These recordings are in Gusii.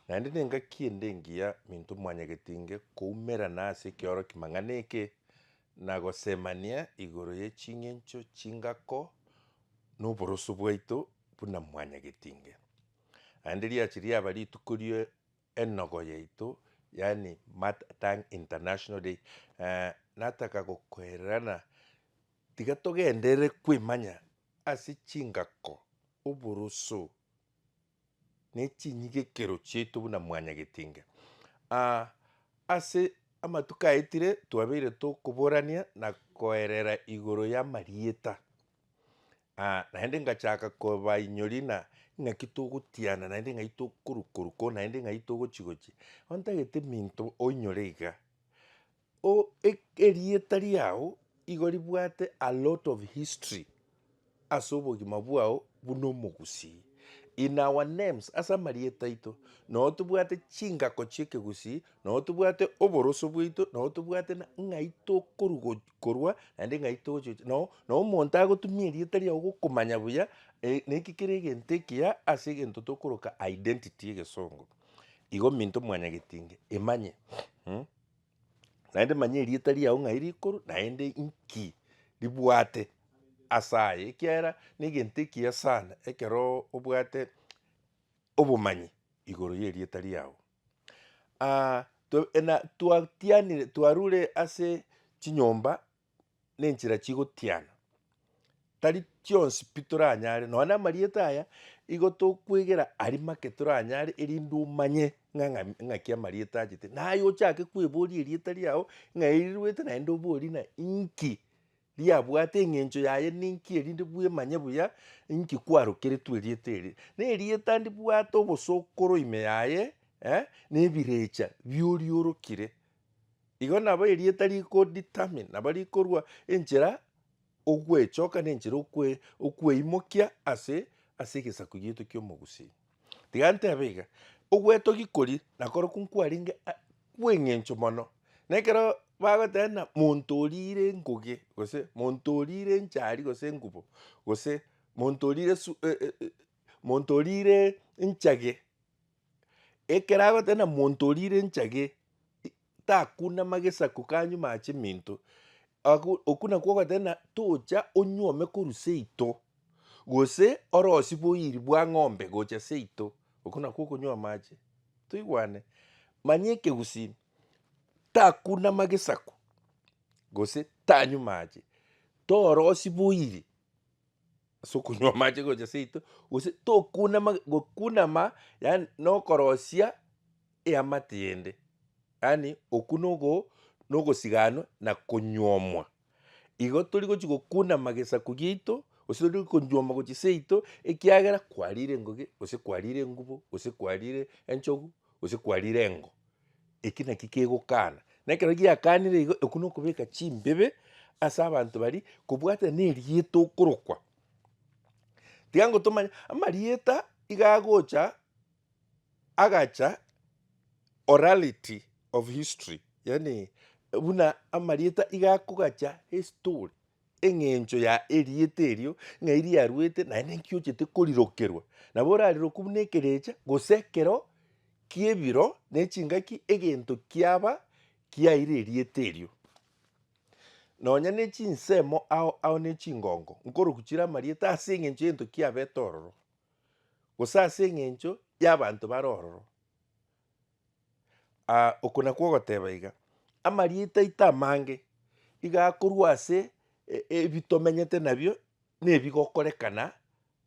Naende nengaki ende engiya minto mwanyagetinge koumerana ase ekeoroki mang'ana eke, na gosemania igoro ye ching'encho chingako noboroso bwaito buna mwanyagetinge. Naende riache riaba rituko rie enogo yaito, yaani Mat tang international day, nataka gokoererana tiga togenderere koimanya ase chingako, oboroso. nechinyigekero chiaito buna mwanyagetinga. Aa, ase amatuko aetire twabeire tokoborania na koerera igoro y'amarieta, aa naende ngachaka kobainyori na ng'aki togotiana naende ng'ai tokoruka ruka oo naende ng'ai togochi gochia, ontagete minto oinyore iga, O erieta riao igo ribwate a lot of history ase obogima bwao buna omogusii. In our names ase amarieta aito nao tobwate chingako chiekegusii nao tobwate oboroso bwaito nao tobwate ng'ai tokorugo korwa naende ng'ai togochi nao nao omonto agotumia erieta riao gokomanya buya na eki kere egento ekiya ase egento tokoroka identity egesongo. Igo minto mwanyagetinge imanye. Naende manya erieta riao ng'ai rikoro, naende inki ribwate ase aye, ekiagera negento ekiya sana ekero obwate obomanyi igoro y'erieta riao. to- na- twatianire twarure ase chinyomba nenchera chigotiana, tari chionsi pi toranyare, nonya na amarieta aya, igo tokwegera aria make toranyare, erinde omanye ng'a ng'a ng'aki amarieta achete. Naye ochake kweboria erieta riao ng'a eri riruete naende oborie ng'a inki riabwate eng'encho yaye ninki erinde bwemanye buya inki kwarokeretwe erieta eri. Na erieta ndibwate obosokoro ime yaye na ebirecha bioria orokire. Igo nabo erieta riko determine, nabo rikorua enchera ogwechoka ne enchera okwe okweimokia ase ase egesaku gieto kia omogusii. Tiga ntebe iga, ogwetogi kori nakoro ko nkwarenge a kwa eng'encho mono, na ekero bagoteba ng'a monto orire engoge gose monto orire enchari gose engubo, gose monto orire su monto orire enchage. Ekero agoteba na monto orire enchage takuna magesaku kanyuma ache minto agwo okwo nakwo ogoteba na tocha onyuome korwa seito gose orosie boiri bwa ng'ombe gocha seito okwo nakwo okonywa amache toigwane manya ekegusii takuna magesaku gose tanywa amache torosi boiri. Ase okonywa amache gocha seito, gose tokunama gokunama yaani nokorosia eamate yende. Yaani okwo nogo nogosiganwa na konyuomwa. Igo tori gochi gokunama gesaku giaito, gose tori konyuoma gochia seito, ekiagera kwarire engogĩ, gose kwarire engubo, gose kwarire enchogu, gose kwarire engo. Eki naki kegokana. Na ekero giakanire igo, oko nokobeka chimbebe ase abanto baria, kobwatana nerieta okorokwa. Tiga ngotomanye, amarieta iga agocha, agacha orality of history, yaani buna amarieta iga akogacha estory, Engencho ya erieta erio ng'ai riaruete, naende inki ochete korirokerwa. Nabo orariroku buna ekerecha, gose ekero ki'ebiro ne chingaki egento kiaba kiaire erieta erio. Nonya ne chinsemo ao ao ne chingongo, nkoroku chire amarieta ase engencho y'egento kiabete ororo, gose ase engencho y'abanto bare ororo. Aa, oko nakwo ogoteba iga. Amarieta aito amange, iga akorwa ase e- e- ebitomenyete nabio, na ebigokorekana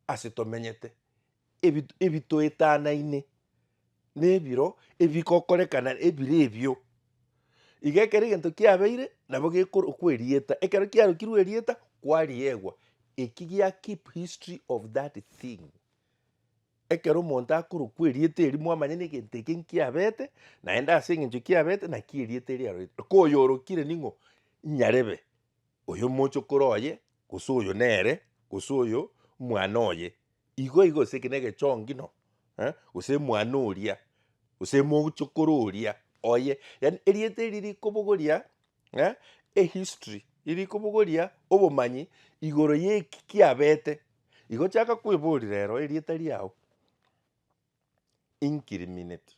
ase tomenyete, ebi ebitoetanaine na ebiro ebigokorekana ebire ebio. Iga ekero egento kiabeire, nabo gekorokwa erieta, ekero kiarokirwe erieta, kwariegwa, eki gia keep history of that thing. Ekero omonto akorokwa erieta eri, mwamanya negento eke nkiabete, naende ase engencho kiabete, naki erieta eri arorete. Oko oyorokire ning'o? Nyarebe oyo mochokoro oye, gose oyo nere, gose oyo mwana oye, igo igo, gose eke negechongi no, eh, gose mwana oria, gose mochokoro oria oye, yaani erieta eri rikobogoria. Ng'a ehistory iri kobogoria obomanyi igoro y'eki kiabete. Igo chaka kwebori rero erieta riao incriminate,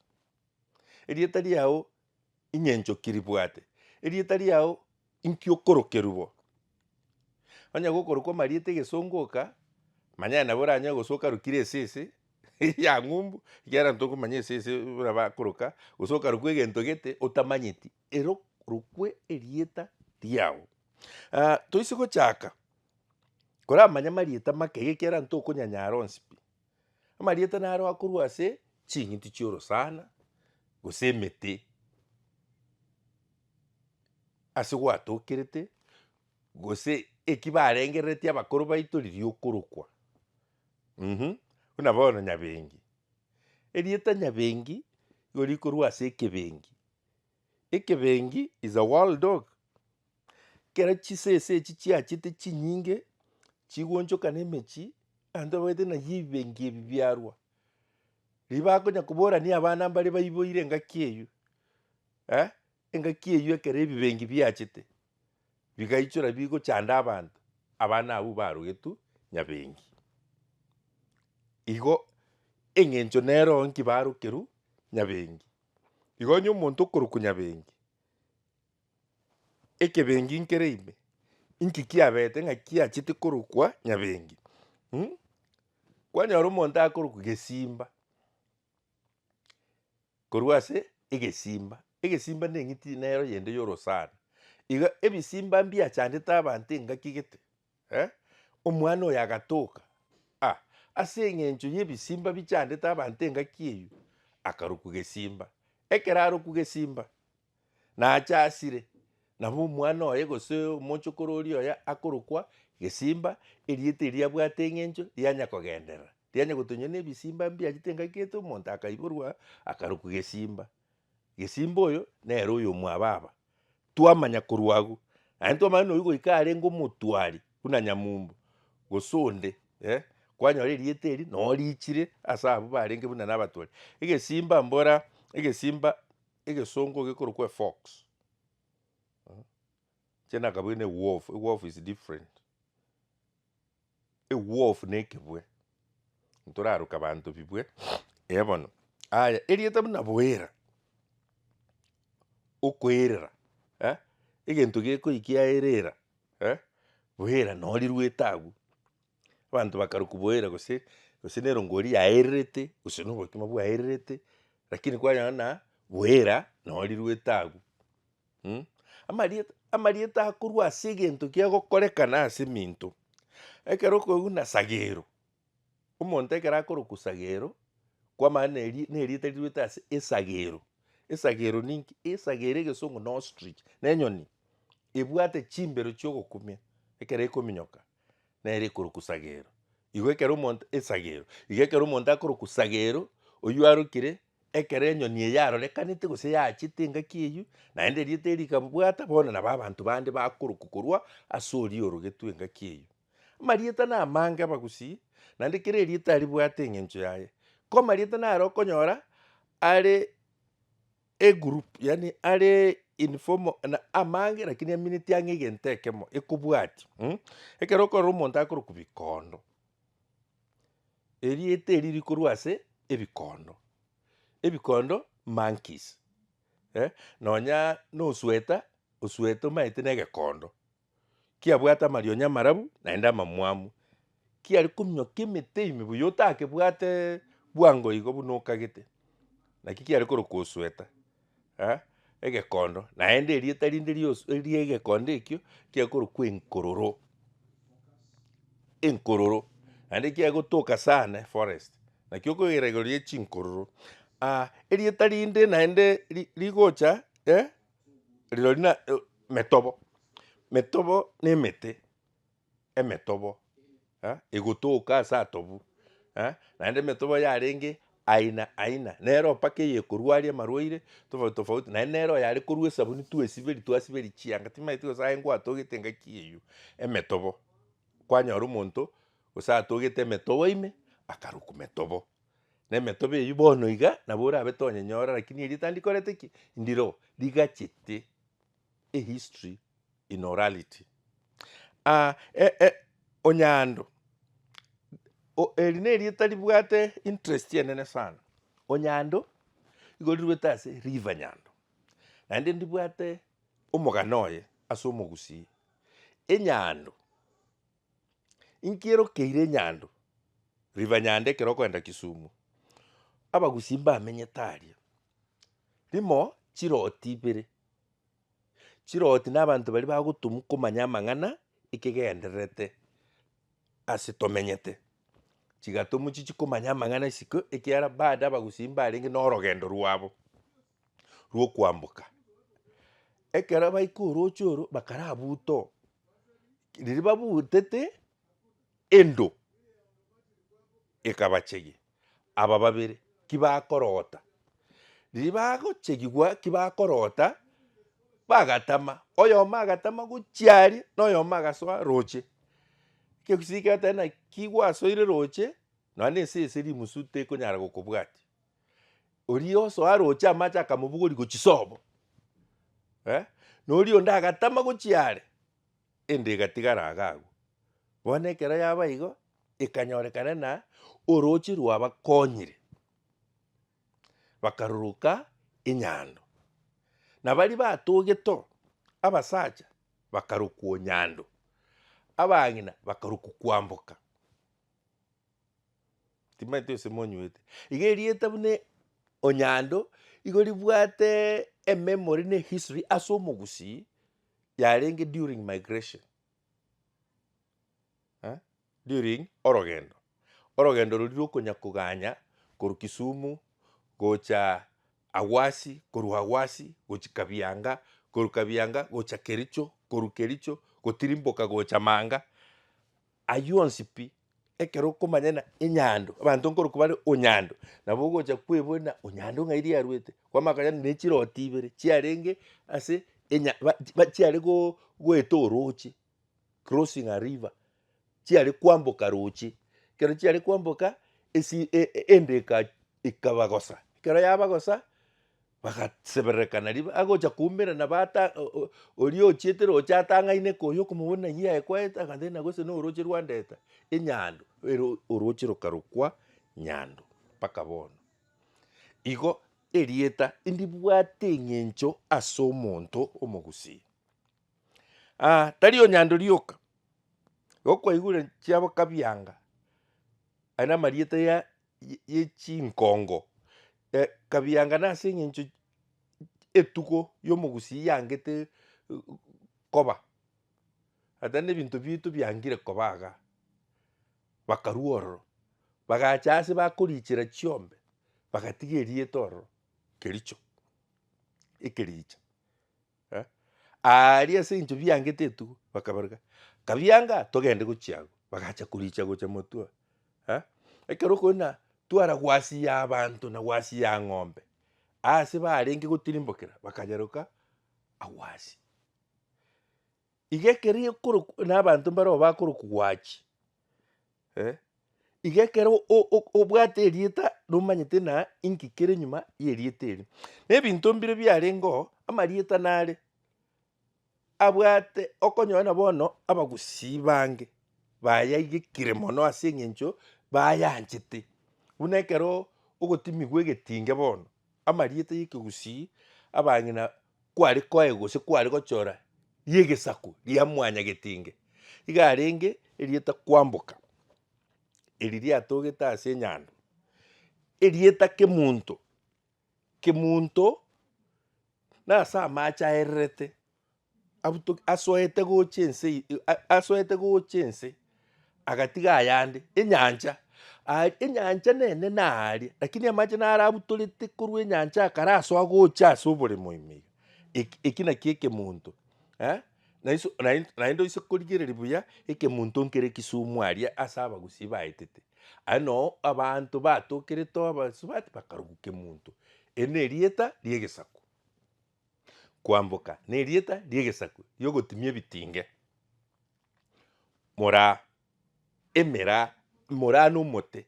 erieta riao ing'encho ki ribwate, erieta riao inki okorokerwa bo. Onye gokorokwa amarieta egesongo oka, manya nabo oranyare gose okarokire esese ya ng'umbu, ekiagera ntokomanya esese buna bakoroka, gose okarokwa egento gete otamanyeti. Erokwe erieta riao. Aah toise gochaka koramanye amarieta make iga ekiagera tokonyanyara onsi pi. Amarieta naro akorwa ase ching'iti chi'orosana gose emete ase gwatokerete gose eki barengereretie abakoro baito riria okorokwa mmh buna bono Nyabengi. Erieta Nyabengi nigo rikorwa ase ekebengi Ekebengi is a wild dog. Kera chisese echi chiachete chinyinge chigoonchokana emechie, abanto babagete naye ebibengi ebi biarwa. Riria bakonya koborania abana mbare baiboire engaki eywo, eh, engaki eywo ekero ebibengi biachete, bigaichora bigochanda abanto, abana abwo barogetwe nyabengi. Igo eng'encho nero nki barokerwe nyabengi. Iga onye omonto okorokwa nyabengi, ekebengi nkere ime, inki kiabete ng'aki achete korokwa nyabengi? Mh, kwanyora omonto akorokwa gesimba, korwa ase egesimba, egesimba neng'iti nero yende yorosana. Iga ebisimba mbiachandete abanto engaki gete, Eh, omwana oyo agatoka, ah, ase eng'encho y'ebisimba bichandete abanto engaki eyio, akarokwa gesimba. Ekero arokwu gesimba, nacha asire, nabo omwana oye gose omochokoro oria oye akorokwa gesimba, erieta eria abwate eng'encho rianya kogenderera, rianya gotonya na ebisimba mbiachete engaki ete omonto akaiborwa akarokwa gesimba. Gesimba oyo nere oyo omwababa. Twamanya korwa agwo, aye ntwamanye nonya goika arenge omotwari buna Nyamumba gose onde eh, kwanyora erieta eri nonya riichire ase abwo barenge buna nabatwari. Egesimba mbora egesimba egesongo gekorokwa efox ekiagera nakabwate ne wolf, wolf is different. Egwofu na ekebwe, ntoraroke abanto bibwe ee bono. Aya, erieta buna boera, okoerera eh, egento gekoiki aerera eh, boera no riruete agwo, abanto bakarokwa boera gose gose na erongo eria yaererete gose na obokima bwaererete, rakini kwanyora buna boera no riruete agwo. Mh. Amarieta, amarieta akorwa ase egento kia gokorekana ase eminto. Ekero okoigwa buna Sagero, omonto ekero akorokwa Sagero, kwamana na eri- na erieta riruete ase esagero. Esagero ninki? Esagero egesongo na ostrich, na enyoni ebwate chimbero chia ogokumia ekero ekominyoka nere ekorokwa sagero. Igo ekero omonto, esagero, igo ekero omonto akorokwa sagero, oyio arokire Ekero enyoni eye yarorekanete gose yaachete engaki eyio, naende erieta erio rikabwata, bono nabo abanto bande bakorokwa korwa ase oria orogetwe engaki eyio. Amarieta namange abagusii, naende kera erieta ribwate eng'encho yaye. Ko amarieta naro okonyora are egroup yaani are in form of na amange lakini amineti ang'e egento ekemo ekobwatia ekero okorora omonto akorokwa bikondo. Erieta eri rikorwa ase ebikondo, ebikondo monkeys, eh, nonya nosweta, osweta omanyete na egekondo, kiabwate amarionya amarabu naende amamwamu, kiare kominyoka emete ime buya otakebwate bwango igo buna okagete, naki kiare korokwa osweta. eh, egekondo, naende erieta rinde riosu eria egekondo ekio kiakorokwa enkororo, enkororo, naende kiagotoka sana eforest, naki okogera igoro ria chinkororo ah erieta rinde naende ri- rigocha eh, rirorio na metobo, metobo na emete, emetobo eh, egotoka ase atobu eh, naende emetobo yarenge aina aina, nero mpaka eyekorwa aria amarwaire tofauti tofauti, naende nero oyare korwa esabuni twesiberi twasiberi chianga, timanyeti gose aye ngwatogete engaki eywo emetobo, kwanyora omonto gose atogete emetobo ime akarukwa metobo, na emetobo eywo bono iga nabo orabete onyenyore, lakini eria tandi korete ki, ndire oo rigachete. A History in Orality. A e e Onyando. O eri nerieta ribwate interest enene sana. Onyando igo riruete ase River Nyando. Naende ndibwate omogano oye ase omogusii. Enyando. Inkierokeire Nyando river nyande ekero okoenda Kisumu, abagusii mbamenyete aria, rimo chiroti ibere, chiroti na abanto baria bagotumwa komanya amang'ana ekegendererete ase tomenyete, chigatumwa chichi komanya amang'ana isiko ekiagera bado abagusii mbarenge na orogendo rwabo. rw'okwamboka. Ekero baika orooche oro bakarabuuta oo, riria babuutete, endo ekabachegia aba babere ki bakoroota. Riria bagochegigwa ki bakoroota, bagatama, oyomo agatama gochia aria, na oyomo agasoa rooche. Ekero ekiisiko kiagoteeba naki gwasoire rooche, nonya na ensese rimusu tekonyara gokobwatia. Oria oso aroche amache akamobogoria gochia sobo, eh, na oria onde agatama gochia are, ende egatigara iga agwo. Bono ekero yaba igo, ekanyorekana na orooche rwabakonyire, bakaruruka enyando. Na baria batogete oo, abasacha bakarokwo nyando, abang'ina bakarokwa kwamboka. Timanyete gose monywete. Iga erieta buna onyando igo ribwate e memory na ehistory ase omogusii yarenge during migration eh during orogendo. Orogendo roria rwa okonya koganya korwa kisumu gocha awasi korwa awasi gochia kabianga korwa kabianga gocha kericho korwa kericho gotirimboka gocha manga ayio onsi pi Ekero okomanya ng'a enyando, abanto nkorokwa bare onyando, nabo ogocha kweboria ng'a onyando ng'ai riaruete, kwamanya konya ne chiroti ibere chiarenge ase enya ba- ba- chiare go- goeta oroche, crossing a river, chiare kwamboka roche, ekero chiare kwamboka esi e- e- enda eka ekabagosa, ekero yabagosa, Bagasebererekana ribe agocha koumera na bata o- o- oria ochiete roche atang'aine koyia okomobuna ng'ai yaekwaete agateba gose noroche rwandeta enyando ere oroche rokarokwa nyando mpaka bono. Igo erieta ndibwate eng'encho ase omonto omogusii. Aa tari o nyando rioka igo kwaigure chiabo kabianga aye namarieta ya ye chinkongo, e, kabianga nase engencho etugo y'omogusii yangete koba, ata nebinto bito biangire koba iga, bakarua ororo, bagacha ase bakorichera chiombe, bagatiga erieta ororo, Kericho, ekericha. eh, aaria ase eng'encho biangete etugo, bakabaruka, Kabianga, togende gochia agwo. Bagacha koricha gocha motwe oo. Eh, ekero okonyora twara gwasia abanto na gwasia ng'ombe, ase barenge gotirimbokera, bakayeroka agwo asia. Iga ekero ekorokw- na abanto mbareo bakorokwa gwachi, eh, iga ekero o- o- obwate erieta nomanyete na inki kere nyuma y'erieta erio. Na ebinto mbire biarengeo, amarieta nare abwate okonyora na bono abagusii bange bayaigekire mono ase eng'encho bayanchete. Buna ekero ogotimigwa egetinge bono, amarieta y'ekegusii abang'ina kware koaye gose kware gochora ri'egesaku ria mwanyagetinge. Iga arenge erieta kwamboka, eri riatogete ase enyando, erieta kemunto, kemunto nase amache aererete abuto asoete gocha ense eye asoete gocha ense. agatiga ayande enyancha aria, enyancha nene naria, rakini amache naro abutorete korwa enyancha akarasoa gocha ase oboremo ime iga, eki eki nakio ekemonto eh, naiso nai naende oise korigereria buya ekemonto nkere Kisumu aria ase abagusii baetete, aye noo abanto batokerete obosubati bakarokwa kemonto, eri nerieta ria egesaku. Kwamboka nerieta riegesaku riogotimia ebitinge. Moraa emeraa moraa nomote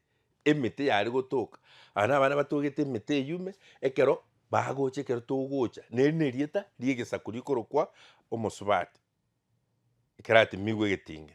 emete yare gotoka aba nabana batogete emete eyume ekero bagocha ekero togocha neri nerieta riegesaku rikorokwa omosubati ekeratimigwe egetinge.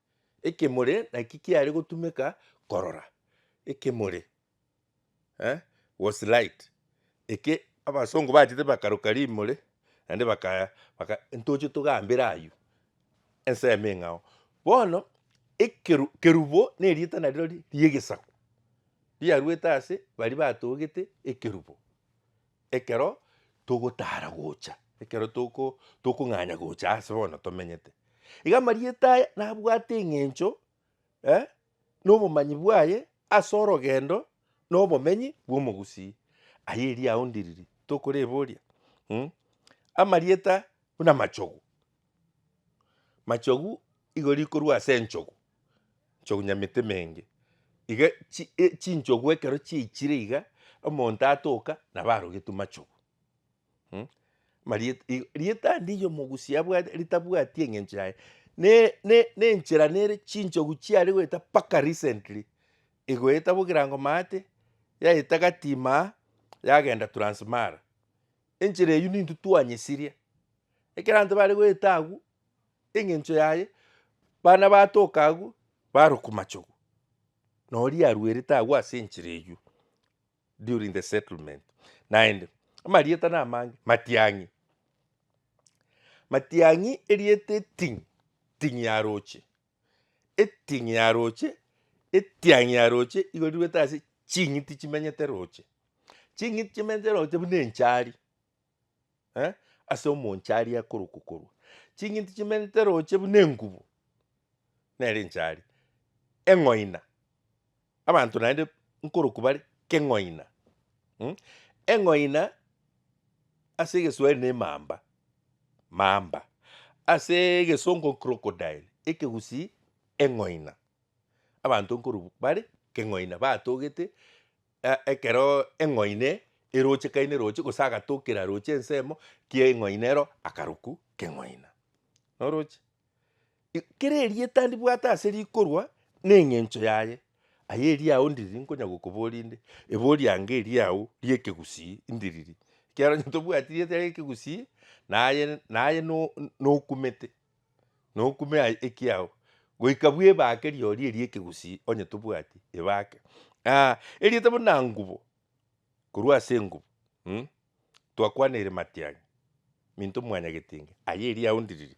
Ekemore naki kiare gotumeka korora ekemore, eh, was light, eke abasongo bachete bakaroka rimore naende bakaya baka ntoche togambere aywo ensemo eng'ao. Bono ekeru kerubo na erieta nariro ri riegesaku, riaruete ase baria batogete ekerubo. Ekero togotara gocha, ekero toko tokong'anya gocha ase bono tomenyete. Iga amarieta aya nabwate eng'encho eh, na obomanyi bwaye ase orogendo na obomenyi bw'omogusii. Aye erio aondiriri, tokoreboria, mm, amarieta buna amachogu, Machogu igo rikorwa ase enchogu, enchogu nyamete emenge, iga chi- e chinchogu ekero chiechire iga, omonto atoka nabo arogetwe machogu mh. Mariet i- rietandi eriomo omogusi abwate ritabwati eng'encho yaye, ne- ne- nenchera nere chinchogu chiare goeta mpaka recently, egoeta bogirango maate, yaeta gatimaa, yagenda transmara, enchera eywo nintwe twanyesiria. Ekeranto bare goeta agwo engencho yaye bana batoka agwo barokwa machogu na oria aruerete agwo ase enchera eywo during the settlement naende amarieta na amange Matiang'i. Matiang'i erieta eting'i ting'i ya roche eting'i ya roche etiang'i ya roche igo riruete ase ching'iti chimenyete roche ching'iti chimenyete roche buna enchari. eh, ase omonche aria akorokwa korwa chinginti chimenete roche buna engubo nere enchari, eng'oina abanto naende nkorokwa bare keng'oina mm, eng'oina ase egeswahili ne emamba, mamba, ase egesongo crocodile, ekegusii eng'oina, abanto nkorokwa bare keng'oina batogete. Ekero eng'oine erochekaine roche, gose agatokera roche ensemo kia eng'oine ero akaruku k'eng'oina. Noroche? I- kera erieta ndibwate ase rikorwa na eng'encho yaye, aye eriago ndiriri nkonya gokobori inde, ebori yange eriago ria ekegusii ndiriri, ekiagera onye tobwati rieta ria ekegusii, naye naye no- nokumete, nokume aye ekiao goika bwebake riori eria ekegusii onye tobwati ebake aah eriete buna ngubo korwa ase engubo mh twakwaneire matiang'i minto mwanya getinge aye eria aondiriri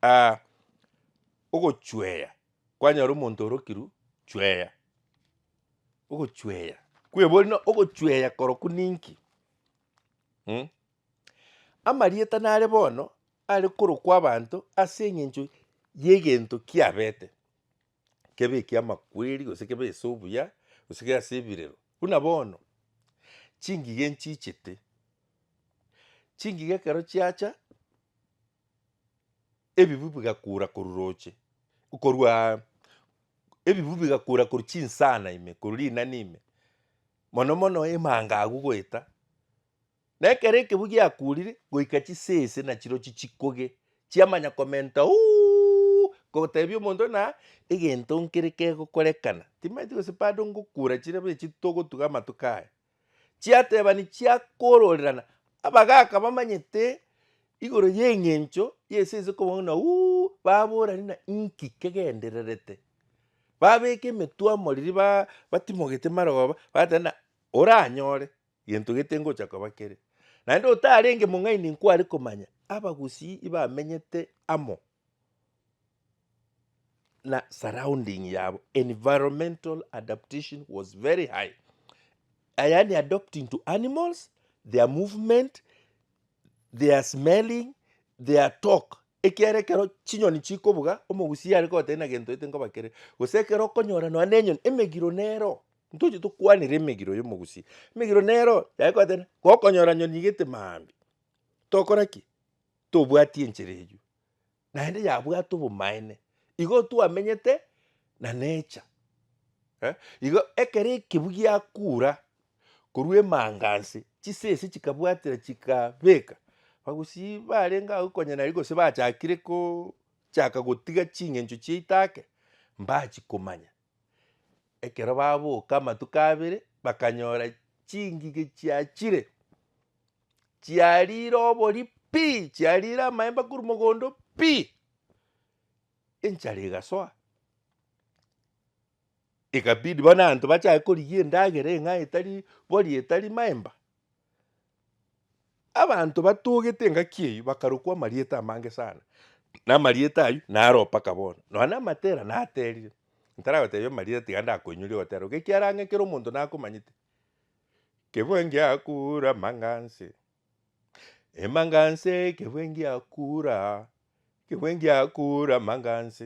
aah ogochweya kwanyora omonto orokirwe chweya ogochweya kwebori na ogochweya korokwo ninki mh. Amarieta nare bono are korokwa abanto ase eng'encho y'egento kiabete, kebe ekiamakweri gose kebe ase obuya gose kebe ase ebirero. Buna bono, chingigha enchichete, chingigha ekero chiacha ebibu bigakura korwa roche, korwaa ebibu bigakura korwa chinsana ime, korwa rinani ime, mono mono emanga agwo goeta. Na ekero ekebu giakurire, goika chisese na chirochi chikoge, chiamanya komenta uuuuuu, kotebia omonto ng'a egento nkere kegokorekana, timaeti gose bado ngokura chirebe echi togotuga amatuko aya. Chiatebani chiakororerana, abagaka bamanyete igoro y'eng'encho y'esese kobua ng'a uuuuuu, baborani ng'a inki kegendererete, babeka emetwe amoriri ba- batimogete maroba, bateba ng'a oranyore, Gento gete ngocha koba kere. Naende otarenge mong'aini nkware komanya abagusii ibamenyete amo na surrounding yabo. Environmental adaptation was very high. Yaani adopting to animals, their movement, their smelling, their talk. Ekiara ekero chinyoni chikobuga, omogusii are kogotebia na gento gete nkoba kere. Gose ekero okonyora nonya na enyoni emegiro nero. Ntoche tokwanere emegiro y'omogusi. Emegiro nero yaye kwatene gokonyora nyoni igete maambia. Tokora ki? Tobwati enchera eywo. Naende yabwate obomaene. Igo twamenyete na nature. Eh, igo ekero ekebu giakura korwa emanganse, chisese chikabwatera chikabeka, abagusii barenge agwo konya naria gose bachakire ko chaka gotiga ching'encho chiaito ake, mbachi komanya. Ekero baboka amatuko abere bakanyora chingige chiachire, chiarire obori pii, chiarire amaemba korwa mogondo pii, enchara egasoa, ekabidi bono abanto bachake korigia endagera eng'ai etari bori etari maemba. Abanto batogete engaki eyio bakarokwa amarieta amange sana, na amarieta ayio naro mpaka bono. Nonya na Matera naterire, ntaragotebia amarieta tiga ndakoinyoria ogotera, iga ekiagera ang'e kera omonto nakomanyete. Kebwe ngiakura amang'anse, emang'anse kebwe ngiakura, kebwe ngiakura amang'anse.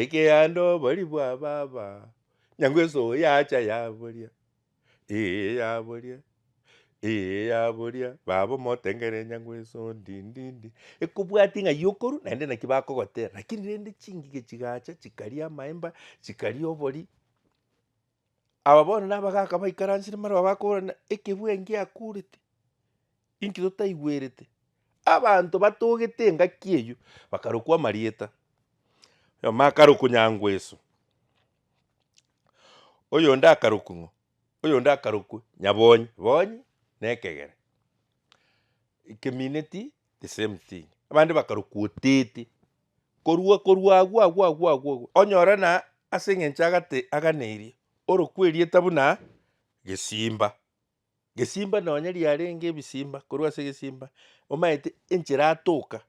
Ekeando obori bwa baba nyangweso oo yacha yaboria eeh yaboria eeh yaboria baba omotengere nyangweso ndindindi ekobwati ng'a yokorwa naende naki bakogotera lakini rende chingige chigacha chikaria amaemba chikaria obori. Aba bono nabagaaka baikaransire marwa bakoorana, Ekebwe enki akorete? Inki totaigwerete? Abanto batogete engaki eyio bakarokwa amarieta. Oyomo akarokwa Nyangweso, oyonde akarokwa ng'o? oyonde akarokwa Nyabonyi, bonyi na ekegere. Ekemineti the same thing, abande bakarokwa Otete. Korua korua agwo agwo agwo agwo agwo onyore na ase engencho agate aganeirie orokwe erieta buna gesimba. Gesimba nonye riarenge ebisimba korwa ase gesimba omaete enchera atoka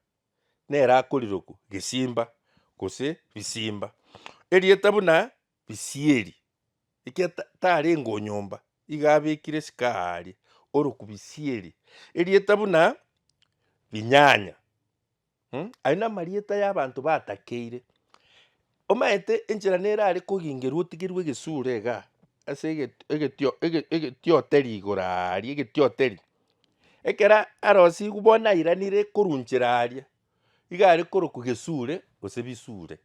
nere akorirokwa gesimba gose bisimba. Erieta buna bisieri ekia tarenge o nyomba iga abekire sika aria orokwa bisieri. Erieta buna binyanya. Mh, ayio namarieta y'abanto batakeire. Omanyete enchera nere are kogingerwa otigerwe egesure iga, ase eget- egetio- ege- egetioteri igoro aaria, egetioteri. Ekera arosiwu bono nairanire korwa nchera aria, iga are korokwa gesure gose bisure,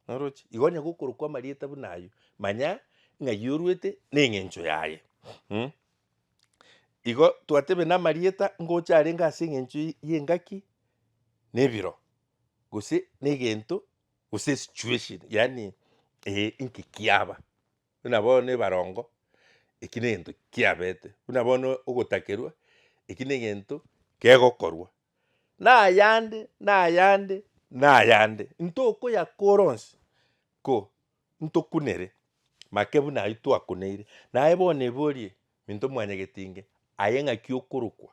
orochi? Igo onye gokorokwa amarieta buna ayio, manya ng'ai orwete na eng'encho yaye mh. Igo twatebe namarieta ngocha arenge ase eng'encho y'engaki na ebiro, gose na egento gose esituation yaani eh inki kiaba. Buna bono ebarongo eki na egento kiabete, buna bono ogotakerwa eki na egento kegokorwa. Na ayande na ayande na ayande ntokoyakora onsi ko. ntokunere make buna ayio twakuneire, naye bono eborie minto mwanyagete inge aye ng'aki okorokwa,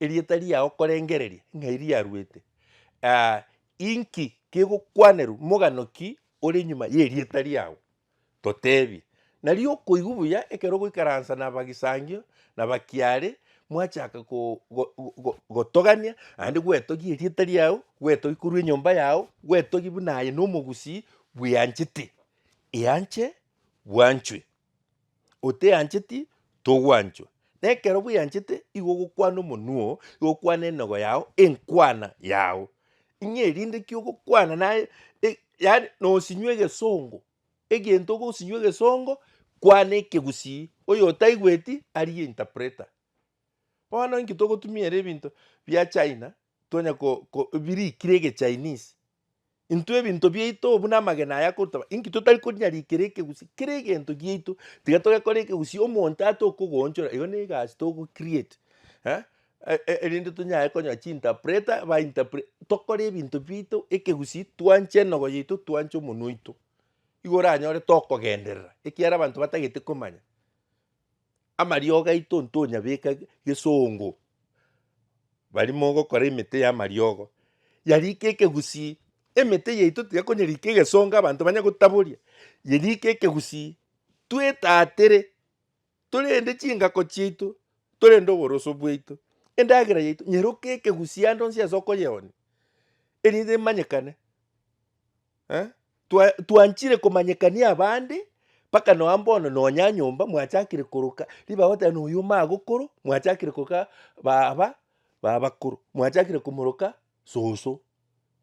erieta riao korengereria ng'ai riaruete, inki kegokwanerwa mogano ki ore nyuma y'erieta riao, totebie. Nario okoigwa buya ekero ogoikaransa na abagisangio na abakiare mwachaka go- go- go- gotogania naende gwetogia erieta riao, gwetogia korwa enyomba yao, gwetogia buna aye na omogusii, Bweanchete, eanche, bwanchwe. Oteancheti, togwanchwa. Na ekero bweanchete, igo ogokwana omonwa oo, igo okwana enogo yao, enkwana yao. Ng'a erinde ki ogokwana naye, e- yaani nosinywa egesongo, egento ogosinywa egesongo, kwana ekegusii, oyotaigweti arie interpreter. Bono inki togotumia ere ebinto bia China, twonye ko ko birikire ege Chinese, intwe ebinto biaito buna amagena aya akotaba, inki totari konyarikera ekegusii, kera egento giaito tiga togekora ekegusii omonto atokogoonchora igo na egasi togo create eh eh erinde tonyaye konyora chi-interpreter ba interpre tokore ebinto biaito ekegusii twanche enogo yaito twanche omonwa oito, igo oranyore tokogenderera ekiagera abanto batagete komanya. amariogo aito ntonyabeka gesongo, baria mogokora emete y'amariogo, yarikire ekegusii, emete yaito tiga konyerika egesongo abanto banye gotaboria, yerike ekegusii, twetatire, torende chingako chiaito, torende oboroso bwaito, endagera yaito nyeroke ekegusii ande onsi ase okoyeonia, erinde emanyekane Eh? Twa, twanchire komanyekania abande mpaka noa mbono nonya nyomba mwachakire koroka riba goteba na oyo magokoro mwachakire koroka baba babakoro mwachakire komoroka soso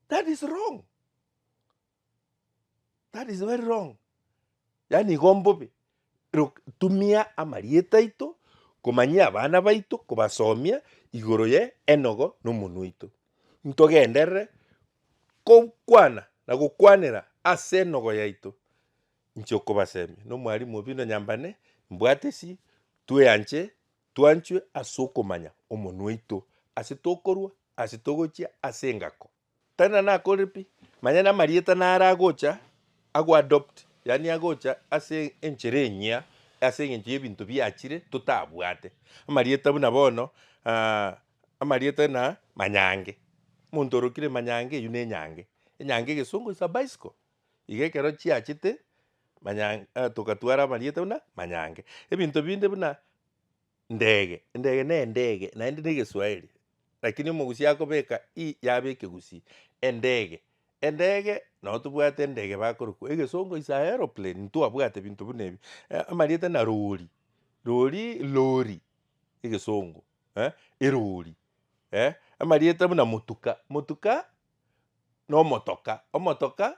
that is wrong that is very wrong Yaani igo mbobe, rok- tumia amarieta aito komanyia abana baito kobasomia igoro ye enogo na omonwa oito. Ntogenderere kogokwana na gokwanera ase enogo yaito, inche okobasemia na omwalimu oo bino nyambane mbwate esi tweanche twanchwe ase okomanya omonwa oito ase tokorwa ase togochia ase engako. Tenena nakore pi, manya namarieta naro agocha agoadopt, yaani agocha ase enchera enyia ase eng'encho y'ebinto biachire totabwate. Amarieta buna bono amarieta na manyange, omonto orokire manyange eywo nenyange. Enyange egesongo is a bicycle. Iga ekero chiachete manyange togatwara amarieta buna manyange. Ebinto binde buna. Ndege, endege na endege, naende na egeswahili, lakini omogusi akobeka i yaba ekegusii. Endege, endege, nabo tobwate endege bakorokwa egesongo is a aeroplane, ntwabwate binto buna ebi. Amarieta na rori, rori, lorry, egesongo, eh, erori, eh, amarieta buna motuka, motuka, na omotoka, omotoka.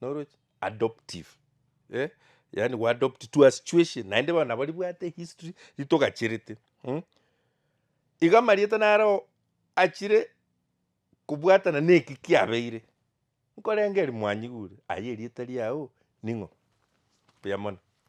noroche adoptive eh yaani go adopt to a situation naende bono nabo ribwate history ritogacherete mmh. Iga amarieta nareo achire kobwatana na eki kiabeire, nkorengeria mwanyigure aye erieta riao ning'o? buya mono.